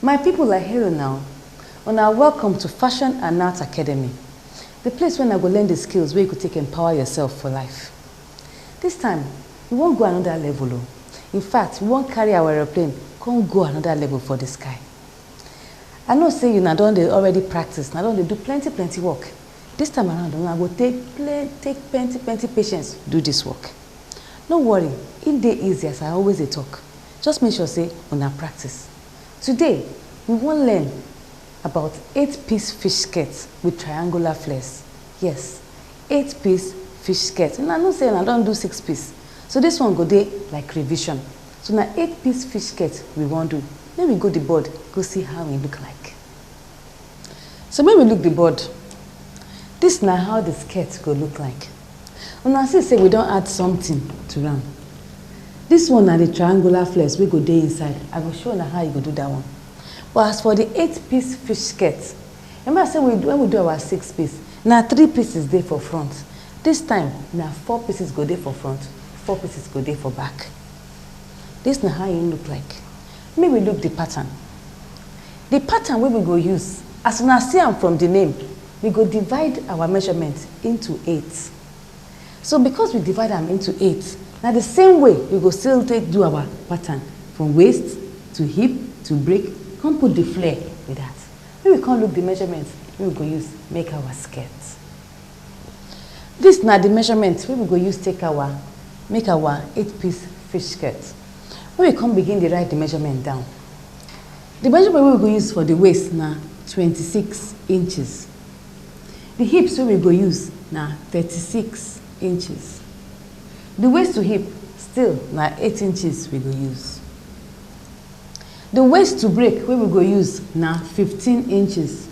My people I hail una o, una are welcome to Fashion and Art Academy, the place wey una go learn the skills wey you go take empower yourself for life. This time, we wan go another level o, in fact we wan carry our aeroplane come go another level for the sky. I know say una don dey already practice, una don dey do plenty plenty work, this time around una go take plen take plenty plenty patience do this work. No worry, im dey easy as I always dey talk, just make sure say una practice. Today we wan learn about eight piece fish skirt with triangular flares, yes eight piece fish skirt una know say una don do six piece so this one go dey like revision so na eight piece fish skirt we wan do make we go the board go see how e look like. So make we look the board. This na how the skirt go look like. Una see say we don add something to am. This one na the triangular flex wey go dey inside. I go show una how you go do that one. But as for the eight piece fish skirt, remember say we, when we do our six piece, na three pieces dey for front. This time, na four pieces go dey for front, four pieces go dey for back. This na how e look like. Make we look di pattern. Di pattern wey we go use, as una see am from di name, we go divide our measurement into eight. So because we divide am into eight, na di same way we go still take do our pattern from waist to hip to break come put di flare be dat. Make we come look di measurement wey we go use make our skirt. Dis na di measurement wey we go use take our make our eight piece fish skirt. Make we come begin dey write di measurement down. Di measurement wey we go use for di waist na twenty six inches. Di hips wey we go use na thirty six inches. Di waist to hip still na eight inches we go use. Di waist to break wey we go use na fifteen inches.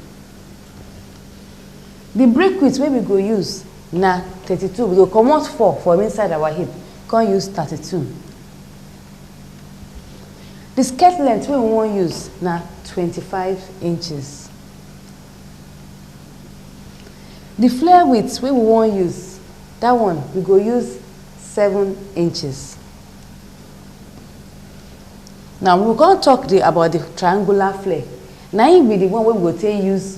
Di break wit wey we go use na thirty two, we go comot four from inside our hip come use thirty two. Di skirt length wey we wan use na twenty five inches. Di flare width wey we wan use dat one we go use seven inches. Now we go come talk di about di triangular flare na im be di one wey we go take use.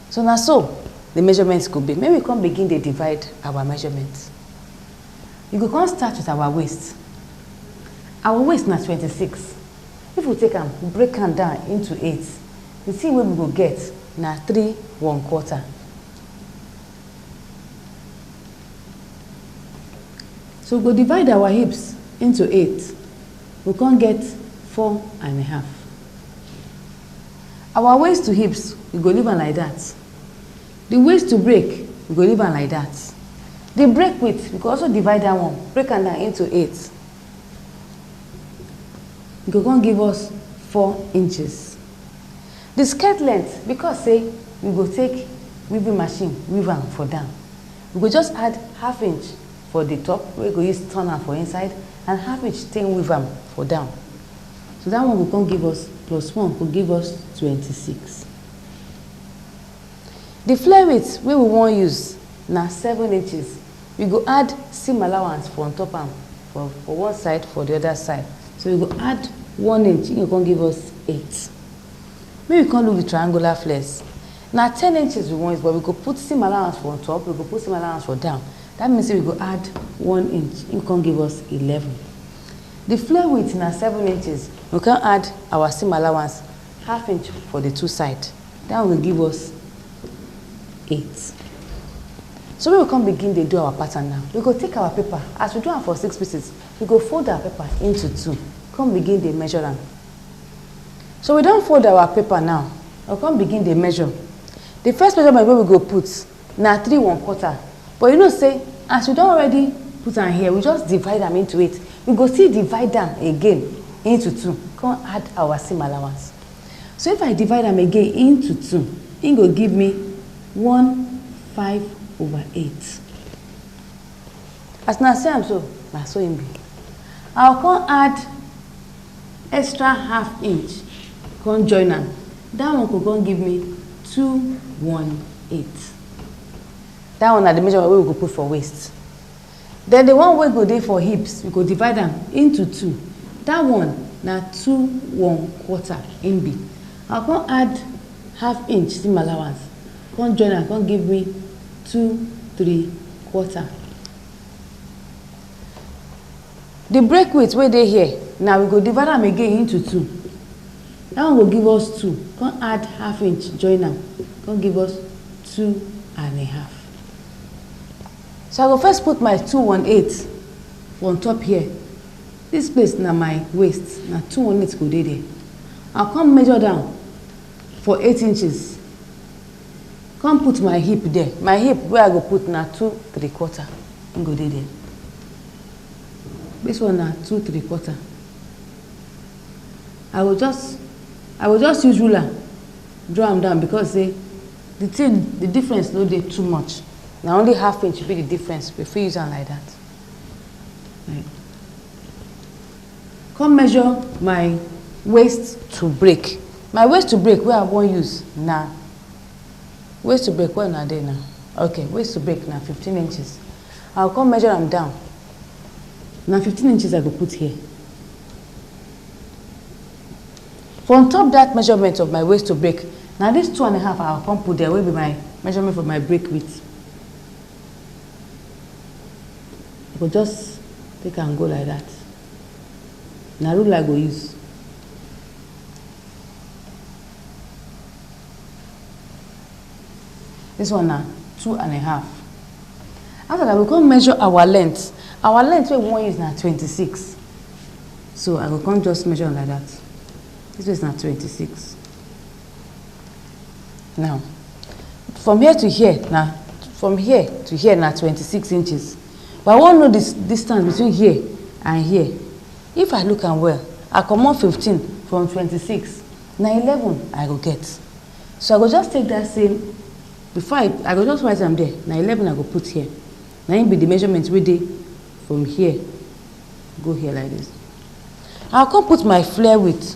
So na so the measurement go be. Make we come begin dey divide our measurement. We go come start with our waist. Our waist na twenty six. If we take am break am down into eight, the thing wey we go get na three one quarter. So we go divide our hips into eight. We come get four and a half. Our waist to hips, we go leave am like that. The waist to break, we go leave am like that. The break width, we go also divide that one, break am down into eight. E go come give us four inches. The skirt length, because say we go take weaving machine weave am for down, we go just add half inch for the top wey go use turn am for inside and half inch take weave am for down. So that one go come give us plus one go give us twenty six. The flare weight wey we wan use na seven inches. We go add seam allowance for on top am for for one side for the other side. So we go add one inch, e go come give us eight. Make we come look the triangular flares. Na ten inches we wan use but we go put seam allowance for on top, we go put seam allowance for down. That means say we go add one inch, e go come give us eleven. Di floor width na seven inches, we come add our seam allowance half inch for di two side, dat one go give us eight. So make we come begin dey do our pattern now, we go take our paper as we do am for six pieces, we go fold our paper into two, come begin dey measure am. So we don fold our paper now, we come begin dey measure, di first measurement wey we go put. na three one quarter but you know say as we don already put am here we just divide am into eight we go still divide am again into two come add our same allowance so if i divide am again into two e go give me one five over eight As una see am so, na so im be. I go come add extra half inch, come join am. That one go come give me two one eight. That one na the measurement wey we go put for waist. Then the one wey go dey for hips, we go divide am into two. That one na two one quarter im be. I go come add half inch, see my allowance. Come join am come give me two three quarter. The break width wey dey here na we go divide am again into two. That one go give us two come add half inch join am come give us two and a half. So I go first put my two one eight for on top here. This place na my waist na two one eight go dey there. I come measure down for eight inches come put my hip there my hip wey i go put na two three quarter im go dey there this one na two three quarter i go just i go just use ruler draw am down because say the thing the difference no dey too much na only half inch be the difference we fit use am like that. Come measure my waist to break. My waist to break wey I wan use na waist to break where una dey na? Okay, waist to break na fifteen inches. I go come measure am down. Na fifteen inches I go put here. For on top that measurement of my waist to break, na this two and a half I go come put there wey be my measurement for my break width. I go just take am go like that. Na rule I go use. This one na two and a half. After that, we go come measure our length. Our length wey we wan use na twenty-six. So I go come just measure am like that. This one is na twenty-six. Now, from here to here na from here to here na twenty six inches but I wan know the distance between here and here. If I look am well, I comot fifteen from twenty six na eleven I go get. So I go just take that same before I, I go just write am there na eleven I go put here. Na im be the measurement wey dey from here go here like this. I come put my flare width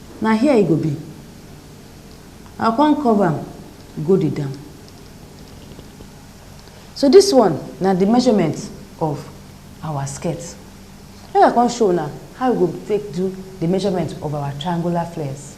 Na here e go be. I come cover am go the down. So this one na the measurement of our skirt. Make I come show una how we go take do the measurement of our triangular flares.